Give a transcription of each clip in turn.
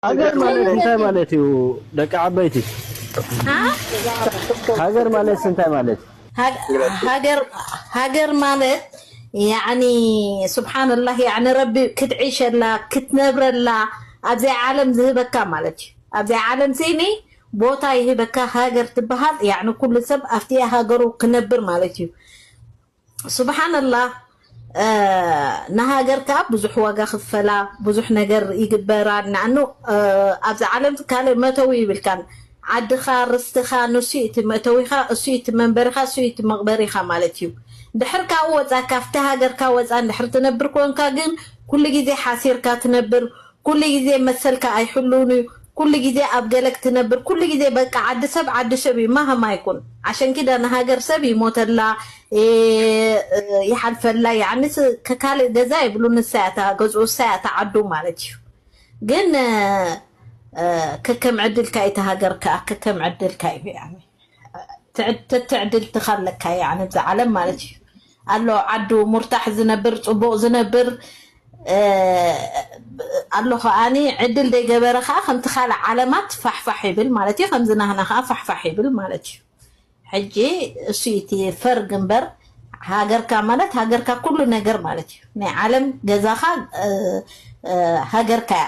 ሃገር ማለት እንታይ ማለት እዩ ደቂ ዓበይቲ? ሃገር ማለት እንታይ ማለት እዩ? ሃገር ሃገር ማለት ያኒ ሱብሓነላህ ያኒ ረቢ ክትዕሸላ ክትነብረላ ኣብዚ ዓለም ዝህበካ ማለት እዩ። ኣብዚ ዓለም ሲኒ ቦታ ይህበካ ሃገር ትበሃል ያኒ ኩሉ ሰብ ኣብቲ ሃገሩ ክነብር ማለት እዩ። ስብሓነላህ ንሃገር ከኣ ብዙሕ ዋጋ ክፈላ ብዙሕ ነገር ይግበራ ንኣኑ ኣብዚ ዓለም ካልእ መእተዊ ይብልካን ዓድኻ ርስትኻ ንሱ እቲ መእተዊኻ እሱ እቲ መንበሪኻ እሱ እቲ መቕበሪኻ ማለት እዩ ድሕር ካብኡ ወፃ ካብቲ ሃገርካ ወፃ እንድሕር ትነብር ኮንካ ግን ኩሉ ግዜ ሓሲርካ ትነብር ኩሉ ግዜ መሰልካ ኣይሕሉውን እዩ ኩሉ ግዜ ኣብ ገለ ክትነብር ኩሉ ግዜ በቃ ዓዲ ሰብ ዓዲ ሸብ እዩ ማህማ ይኩን ዓሸንኪዳ ንሃገር ሰብ ይሞተላ ይሓልፈላ ያዕኒ ከካልእ ገዛ የብሉ ንሳ እያ እታ ገዝኡ እሳ እያ እታ ዓዱ ማለት እዩ ግን ከከም ዕድልካ እዩ እታ ሃገር ከኣ ከከም ዕድልካ እዩ ያዕኒ ትዕድልትካ ኣለካ ያዕ ንብዛ ዓለም ማለት እዩ ኣሎ ዓዱ ሙርታሕ ዝነብር ፅቡቅ ዝነብር ኣሎ ከዓኒ ዕድል ደይገበረ ከዓ ከምቲ ካልእ ዓለማት ፋሕፋሕ ይብል ማለት እዩ ከምዚ ናህና ከዓ ፋሕፋሕ ይብል ማለት እዩ ሕጂ እሱ እቲ ፈርግ እምበር ሃገርካ ማለት ሃገርካ ኩሉ ነገር ማለት እዩ ናይ ዓለም ገዛኻ ሃገርካ እያ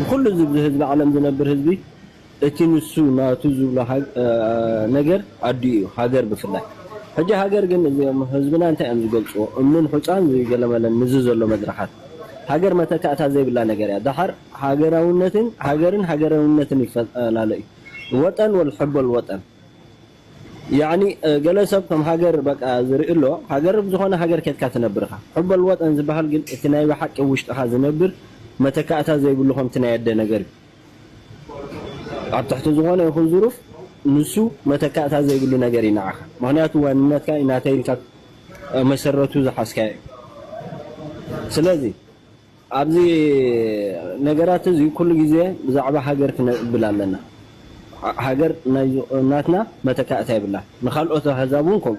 ንኹሉ እዚ ብዚ ህዝቢ ዓለም ዝነብር ህዝቢ እቲ ንሱ ናቱ ዝብሎ ነገር ኣዲኡ እዩ ሃገር ብፍላይ ሕጂ ሃገር ግን እዚኦም ህዝብና እንታይ እዮም ዝገልጽዎ እምንን ሑጻን ዝገለመለን ንዚ ዘሎ መድረኻት ሃገር መተካእታ ዘይብላ ነገር እያ ደሓር ሃገራውነትን ሃገርን ሃገራውነትን ይፈላለ እዩ ወጠን ወልሕቦል ወጠን ያኒ ገለ ሰብ ከም ሃገር በቃ ዝርኢ ኣሎ ሃገር ብ ዝኾነ ሃገር ከድካ ትነብር ኢኻ ሑበል ወጠን ዝባሃል ግን እቲ ናይ ባሓቂ ብ ውሽጥኻ ዝነብር መተካእታ ዘይብሉ ከምቲ ናይ ኣደ ነገር ዩ ኣብ ትሕቲ ዝኾነ ይኹን ዙሩፍ ንሱ መተካእታ ዘይብሉ ነገር ዩ ናዓኻ ምኽንያቱ ዋንነትካ ዩ ናተይ ኢልካ መሰረቱ ዝሓዝካዮ ዩ ስለዚ ኣብዚ ነገራት እዚ ኩሉ ግዜ ብዛዕባ ሃገር ክነብል ኣለና ሃገር ናትና መተካእታ የብላን ንካልኦት ኣህዛብ ውን ከምኡ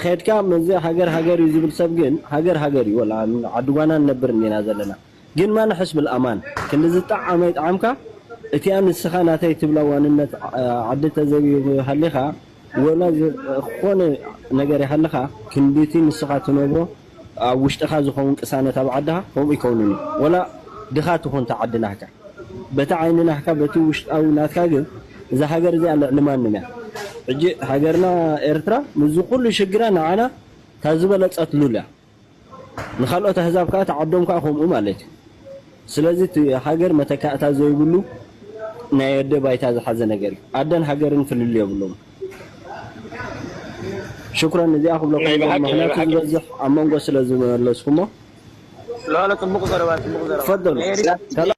ከድካ መዚ ሃገር ሃገር እዩ ዝብል ሰብ ግን ሃገር ሃገር እዩ ወላ ኣብ ዓዲ ጓና ንነብር እንዲና ዘለና ግን ማን ኣሕስብል ኣማን ክንዲ ዝጣዓመ ይጥዓምካ እቲኣ ንስካ ናተይ ትብላ ዋንነት ዓዲ ተዘቢብካ ሃሊካ ወላ ዝኮነ ነገር ይሃልኻ ክንድቲ ንስኻ ትነብሮ ኣብ ውሽጥኻ ዝኸውን ቅሳነት ኣብ ዓድኻ ከምኡ ኣይከውንን እዩ ወላ ድኻ ትኹን እታ ዓዲ ናህካ በቲ ዓይኒ ናህካ በቲ ውሽጣዊ ናትካ ግን እዛ ሃገር እዚኣ ልዕሊ ማንም እያ ሕጂ ሃገርና ኤርትራ ምስዚ ኩሉ ሽግራ ንዓና እታ ዝበለጸት ሉል እያ። ንካልኦት ኣህዛብ ከኣ እታ ዓዶም ከኣ ከምኡ ማለት እዩ። ስለዚ እቲ ሃገር መተካእታ ዘይብሉ ናይ ኣደ ባይታ ዝሓዘ ነገር እዩ። ኣደን ሃገርን ፍልልይ የብሎምን። ሽኩረን እዚኣ ክብለኩም ናይ ዝደሊ በሓቂ ናይ ምክንያቱ በሓቂ ዝበዝሕ ኣብ መንጎ ስለ ዝመለስኩሞ። ሎሎ ጽቡቅ ዘረባ ጽቡቅ ዘረባ ተፈደሉ ናይ ኤሪትራ ሰላም